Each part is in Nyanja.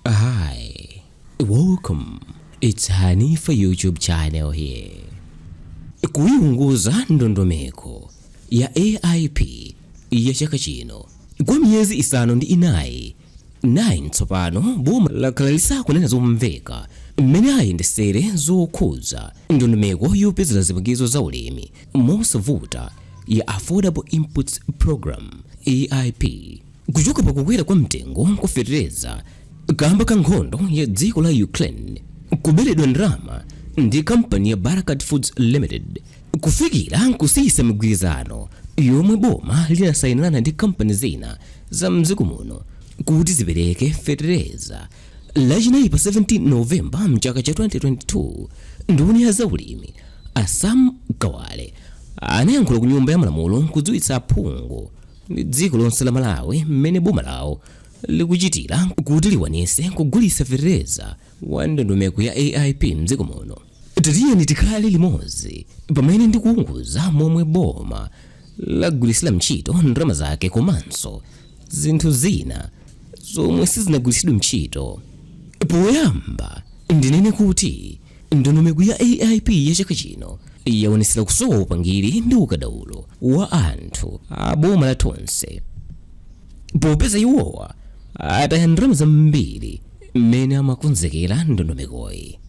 Hi, welcome. It's Hanifa YouTube channel here. Kuyiwunguza ndondomeko ya AIP ya chaka chino kwa miyezi isanu ndi inayi 9 tsopano boma lakhala lisakunena zomveka mmene ayendesere zokhudza ndondomeko yopezera zipangizo za ulimi mosavuta ya Affordable Inputs Program AIP kuchoka pa kukwera kwa mtengo kwa fetereza kamba ka nkhondo ya dziko la ukraine kuberedwa ndalama ndi kampani ya barkaat foods limited kufikira kusiyisa migwirizano yomwe boma linasayinirana ndi kampani zina za mdziko muno kuti zipereke fetereza lachinayi pa 17 novemba mchaka cha 2022 nduna ya zaulimi a sam kawale anayankhula ku nyumba ya malamulo kudziwitsa aphungu ndi dziko lonse la Malawi mmene boma lawo likuchitira kuti likwanise kugulisa fetereza wa ndondomeko ya AIP mdziko muno. Tatiyeni tikhale limodzi pamene ndikuunguza momwe boma lagwirisira mtchito ndalama zake komanso zinthu zina zomwe sizinagwirisidwe mtchito. Poyamba ndinene kuti Ndondomeko ya AIP ya chaka chino yaonetsera kusowa upangiri ndi ukadaulo wa anthu a boma la Tonse popeza iwowa ataya ndalama zambiri mmene amakonzekera ndondomekoyi.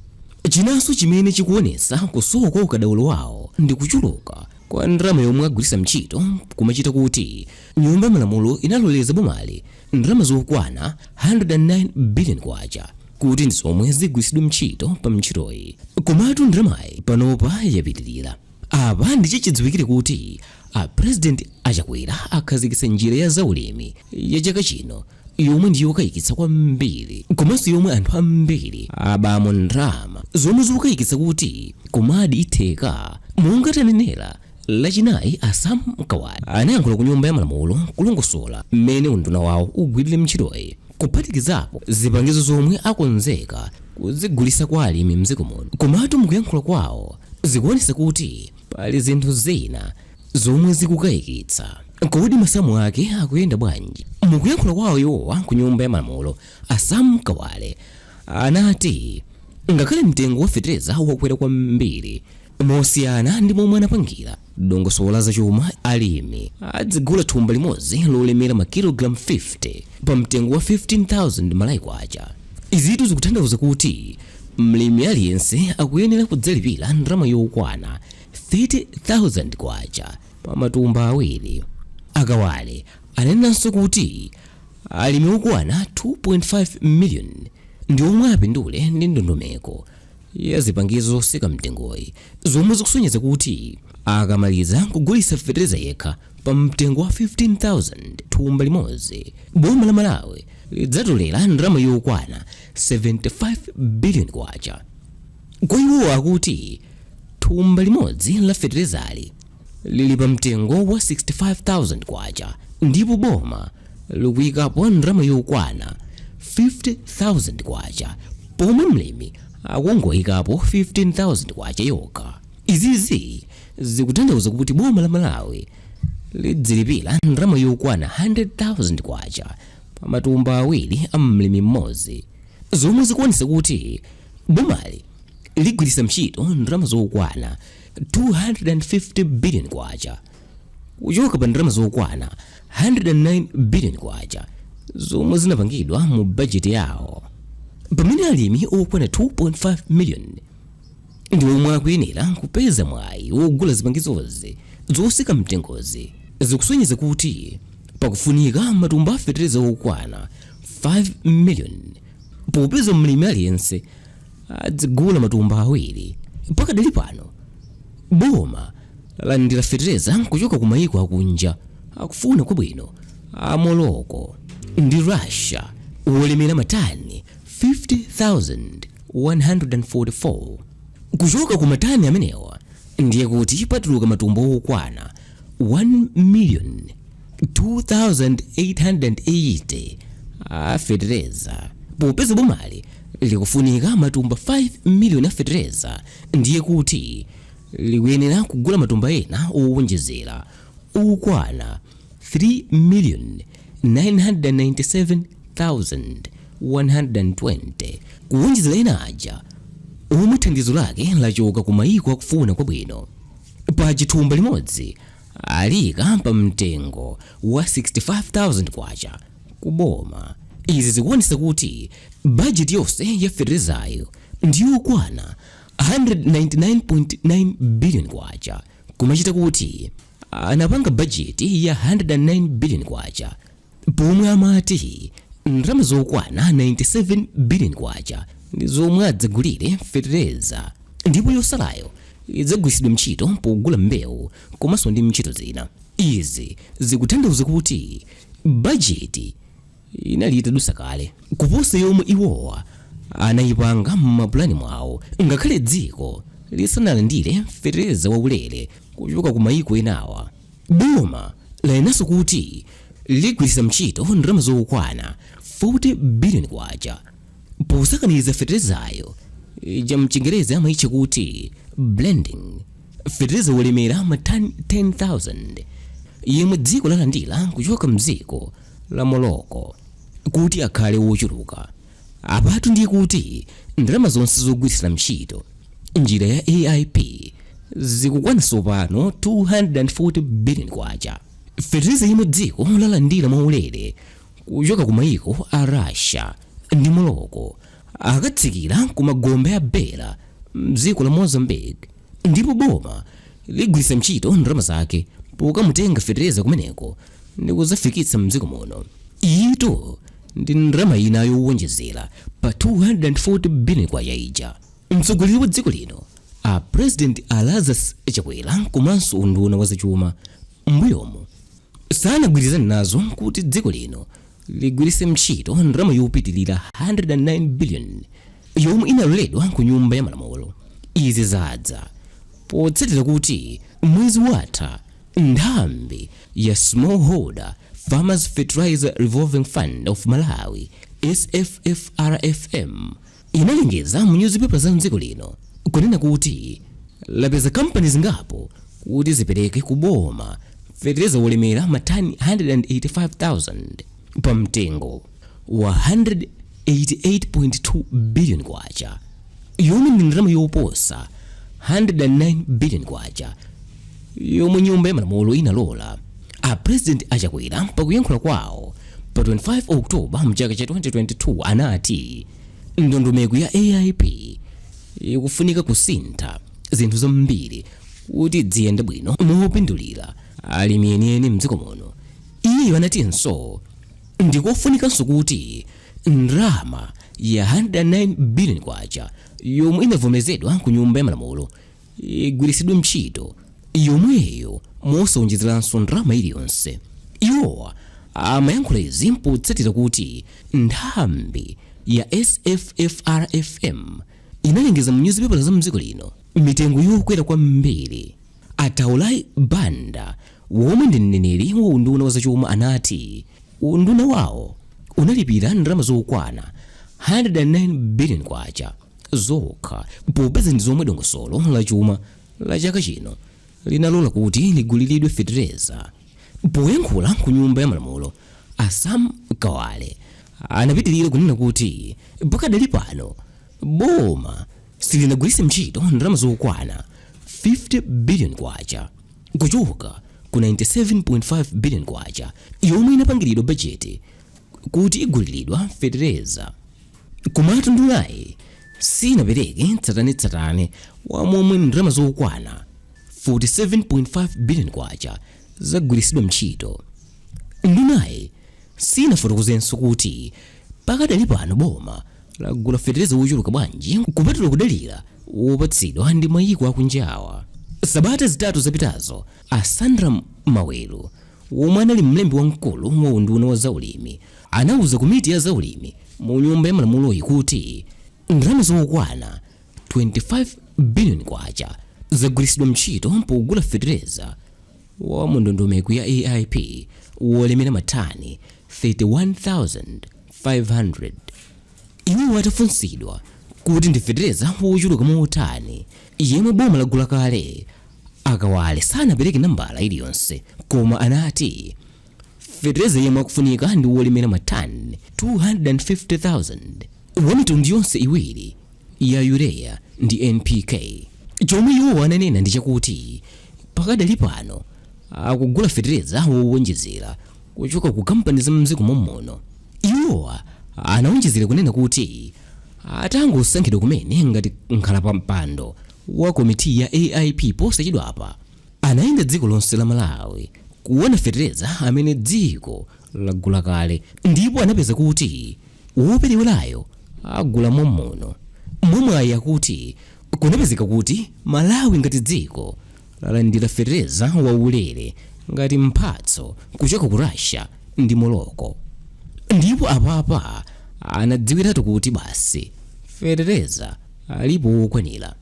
Chinanso chimene chikuonetsa kusowa kwa ukadaulo wawo ndi kuchuluka kwa ndalama yomwe agwiritsa ntchito kumachita kuti Nyumba ya Malamulo inaloleza bomali ndalama zokwana 109 biliyoni kwacha. kuti ndi zomwe zigwiritsidwe mtchito pa mtchitoyi. Komatu ndalamayi panopa yapitilira. Apa ndi chachidziwikire kuti a President a Chakwera akhazikitsa njira ya za ulimi ya chaka chino yomwe ndi yokayikitsa kwambiri komanso yomwe anthu ambiri abamo ndalama zomwe zikukayikitsa kuti kumadi itheka monga tanenera lachinayi a sam kawale anayankhula ku nyumba ya malamulo kulongosola mmene unduna wawo ugwirire ntchitoyi kuphatikizapo zipangizo zomwe akonzeka kuzigulisa kwa alimi mdziko muno komatu mukuyankhula kwawo zikuonesa kuti pali zinthu zina zomwe zikukayikitsa kodi masamu ake akuyenda bwanji mukuyankhula kwawo iwowa ku nyumba ya malamulo a sam kawale anati ngakhale mtengo wa fetereza wakwera kwambiri Mosiyana ndi momwe anapangira dongosolo la zachuma, alimi adzigula thumba limodzi lolemera makilogalamu 50 pa mtengo wa 15,000 Malawi kwacha. Izitu zikutanthauza kuti mlimi aliyense akuyenera kudzalipira ndalama yokwana 30,000 kwacha pa matumba awiri. A Kawale ananenanso kuti alimi okwana 2.5 miliyoni ndi omwe apindule ndi ndondomeko ya zipangizo zotsika mtengoyi zomwe zikusonyeza kuti akamaliza kugulitsa fetereza yekha pa mtengo wa 15,000 thumba limodzi boma la malawi lidzatolera ndalama yokwana 75 biliyoni kwacha kwa iwo akuti thumba limodzi la feterezali lili pa mtengo wa 65,000 kwacha ndipo boma likuyikapo ndalama yokwana 50,000 kwacha pomwe mlimi akungoyikapo 15,000 kwacha yokha izizi zikutanthauza kuti boma la malawi lidzilipira ndalama yokwana 100,000 kwacha pa matumba awiri a mlimi mmodzi zomwe zikuonetsa kuti bomali ligwiritsa ntchito ndalama zokwana 250 billion kwacha kuchoka pa ndalama zokwana 109 billion kwacha zomwe zinapangidwa mu bajeti yawo pamene alimi okwana 2.5 million ndi omwe akuyenera kupeza mwayi wogula zipangizozi zotsika mtengozi zikusonyeza kuti pakufunika matumba a fetereza okwana 5 million popeza mlimi aliyense adzigula matumba awiri. Pakadali pano boma lalandira fetereza kuchoka ku mayiko akunja akufuna kwabwino a Morocco ndi Russia wolemera matani 50,144. Kuchoka ku matani amenewa ndiye kuti patuluka matumba okwana 1 miliyoni 2880 a fetereza popeza bomali likufunika matumba 5 miliyoni a fetereza ndiye kuti likuyenera kugula matumba ena owonjezera okwana 3,997,120 kuwonjezera ena aja omwe thandizo lake lachoka ku mayiko akufuna kwabwino pakuti thumba limodzi aliika pa mtengo wa 65,000 kwacha ku boma. Izi zikuonetsa kuti bajeti yonse ya feterezayo ndi yokwana 199.9 biliyoni kwacha kumachita kuti anapanga bajeti ya 109 biliyoni kwacha pomwe amati ndalama zokwana 97 billion kwacha ndi zomwe adzagulire fetereza ndipo yotsalayo idzagwiritsidwa ntchito pogula mbewu komanso ndi ntchito zina izi zikutanthauza kuti bajeti inali itadusa kale kuposa yomwe iwowa anayipanga m'mapulani mwawo ngakhale dziko lisanalandire fetereza waulere kuchoka ku mayiko enawa Boma lanenanso kuti ligwiritsa ntchito ndalama zokwana 40 billion kwacha posakaniza fetelezayo mchingerezi amaitcha kuti blending, feteleza wolemera matani 10,000 yemwe dziko lalandira kuchoka mdziko la Morocco kuti akhale wochuluka. Apatu ndiye kuti ndalama zonse zogwiritsira ntchito njira ya AIP zikukwana tsopano 240 biliyoni kwacha, feteleza yemwe dziko lalandira mwaulere kuchoka ku maiko a Russia ndi Morocco akatsikira ku magombe a Beira m'dziko la Mozambique. ndipo boma ligwiritsa ntchito ndalama zake pokamutenga fetereza kumeneko ndi kudzafikitsa mdziko muno iyitu ndi ndalama ina yowonjezera pa 240 billion kwacha ija mtsogoleri wa dziko lino a president a lazarus chakwera komanso unduna wa zachuma mbuyomu sanagwirizane nazo kuti dziko lino ligwiritse ntchito ndalama yopitilira 109 billion yomwe inaloledwa ku nyumba ya malamulo izi zadza potsatira kuti mwezi watha nthambi ya smallholder farmers fertilizer revolving fund of malawi sffrfm inalengeza mu nyuzipepala za m'dziko lino kunena kuti lapeza kampani zingapo kuti zipereke ku boma fetereza wolemera matani 185,000 pa mtengo wa 188.2 billion kwacha yomwe ndi ndalama yoposa 109 billion kwacha yomwe nyumba ya malamulo inalola a president a chakwera pakuyankhula kwawo pa 25 oktoba mchaka cha 2022 anati ndondomeko ya aip ikufunika kusintha zinthu zambiri kuti idziyenda bwino mopindulira alimi enieni mdziko muno iwo anatinso ndikofunikanso kuti ndalama ya 109 billion kwacha yomwe inavomerezedwa ku nyumba ya malamulo igwiritsidwe ntchito yomweyo mosawonjezeranso ndalama iliyonse iwowa amayankhula izi potsatira kuti nthambi ya sffrfm inalengeza mu nyuzipepala za mdziko lino mitengo yokwera kwambiri a Taurai Banda womwe ndi mneneri wa unduna wa zachuma anati unduna wawo unalipira ndalama zokwana 109 billion kwacha zokha popeza ndi zomwe dongosolo la chuma la chaka chino linalola kuti liguliridwe fetereza poyankhula ku nyumba ya malamulo a sam kawale anapitirira kunena kuti pakadali pano boma silinagwiritse ntchito ndalama zokwana 50 billion kwacha kuchoka ku 97.5 billion kwacha yomwe inapangiridwa bajeti kuti iguliridwe fetereza Komatu ndunayi sinapereke tsatanetsatane wa momwe ndalama zokwana 47.5 biliyoni kwacha zagwiritsidwa ntchito. Ndunayi sinafotokozenso kuti pakadali pano boma lagula fetereza wochuluka bwanji kupatula kudalira wopatsidwa ndi mayiko akunjawa. Sabata zitatu zapitazo, a Sandram Maweru, womwe anali mlembi wamkulu wa unduna wa zaulimi, anauza komiti ya zaulimi mu Nyumba ya Malamuloyi kuti ndalama zokwana 25 biliyoni kwacha zagwiritsidwa ntchito pogula fetereza wa mu ndondomeko ya AIP wolemera matani 31,500. Iwo atafunsidwa kuti ndi fetereza wochuluka motani yemwe boma lagula kale, a Kawale sanapereke nambala iliyonse koma anati fetereza yemwe akufunika ndi wolemera matani 250,000 wa mitundu yonse iwiri ya urea ndi npk chomwe iwo ananena ndi chakuti pakadali pano akugula fetereza wowonjezera kuchoka ku kampani za mdziko mommuno iwowa anawonjezera kunena kuti atangosankhidwa kumene ngati nkhalapampando wa komiti ya aip posachedwapa Anayenda dziko lonse la Malawi kuona fetereza amene dziko lagula kale ndipo anapeza kuti woperewerayo agula mommuno. Mwamwayi akuti kunapezeka kuti Malawi ngati dziko lalandira fetereza waulere ngati mphatso kuchoka ku Russia ndi Morocco ndipo apapa anadziwiratu kuti basi fetereza alipo wokwanira.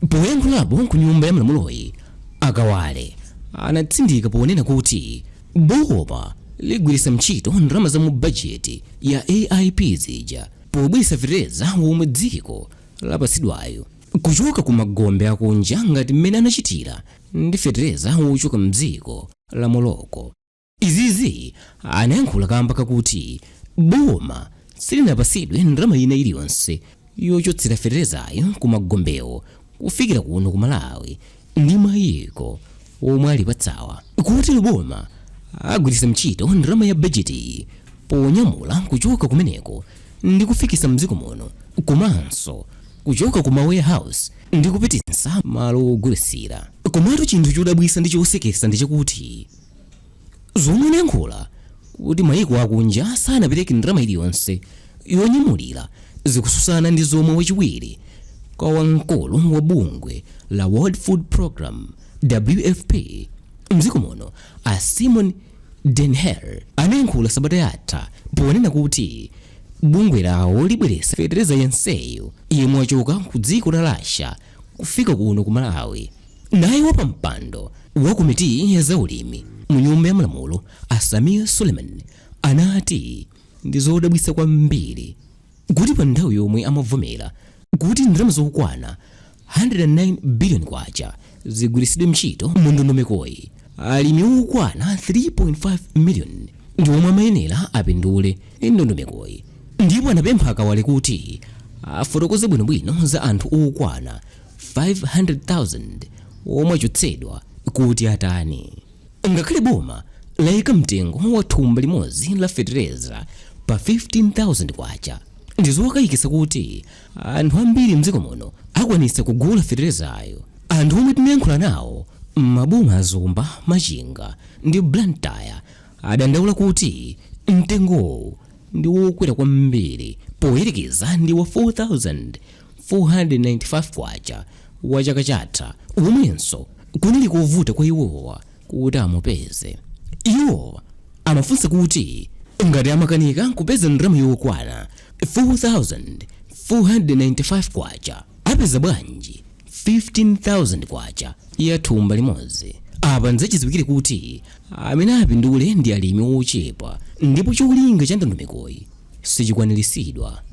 Poyankhulapo ku nyumba ya malamuloyi, a Kawale anatsindika ponena kuti boma ligwiritsa ntchito ndalama za mu bajeti ya AIP zija pobweretsa fetereza womwe dziko lapatsidwayu kuchoka ku magombe akunja ngati mmene anachitira ndi fetereza wochoka mdziko la Morocco. Izizi anayankhula kamba kakuti boma silinapasidwe ndalama ina iliyonse yochotsera feterezayu ku magombewo kufikira kuno ku Malawi ndi mayiko omwe alipatsawa. Kotero boma agwiritsa ntchito ndalama ya bajetiyi ponyamula kuchoka kumeneko ndi kufikisa mdziko muno komanso kuchoka ku ma warehouse ndi kupititsa malo ogulitsira. Komatu chinthu chodabwisa ndi chosekesa ndi chakuti zomwe anayankhula kuti maiko akunja sanapereke ndalama iliyonse yonyamulira zikususana ndi zomwe wachiwiri kwa wamkulu wa bungwe la world food program wfp mdziko muno a simon denhere anayankhula sabata yatha ponena kuti bungwe lawo libweresa fetereza yenseyo yemwe wachoka ku dziko la russia kufika kuno ku Malawi. Naye wapampando wa komiti ya zaulimi mu nyumba ya malamulo a Samir Suleiman anati ndi zodabwitsa kwambiri kuti pa nthawi yomwe amavomera kuti ndalama zokwana 109 billion kwacha zigwiritsidwe ntchito mu ndondomekoyi Alimi okwana 3.5 million ndi omwe amayenera apindule ndi ndondomekoyi ndipo anapempha a Kawale kuti afotokoze bwinobwino za anthu okwana 500,000 omwe achotsedwa kuti atani. Ngakhale boma layika mtengo wa thumba limodzi la fetereza pa K15,000, ndizokayikitsa kuti anthu ambiri mdziko muno akwanitsa kugula feterezayo anthu omwe tinayankhula nawo m'maboma a zomba machinga ndi blantyre adandaula kuti mtengowu ndi wokwera kwambiri poyerekeza ndi wa 4495 kwacha wa chaka chatha omwenso kunali kovuta kwa iwowa kuti amupeze iwo amafunsa kuti ngati amakanika kupeza ndalama yokwana 4495 kwacha apeza bwanji 15000 kwacha ya thumba limodzi apa ndi zachidziwikire kuti amene apindule ndi alimi ochepa ndipo cholinga cha ndondomekoyi sichikwaniritsidwa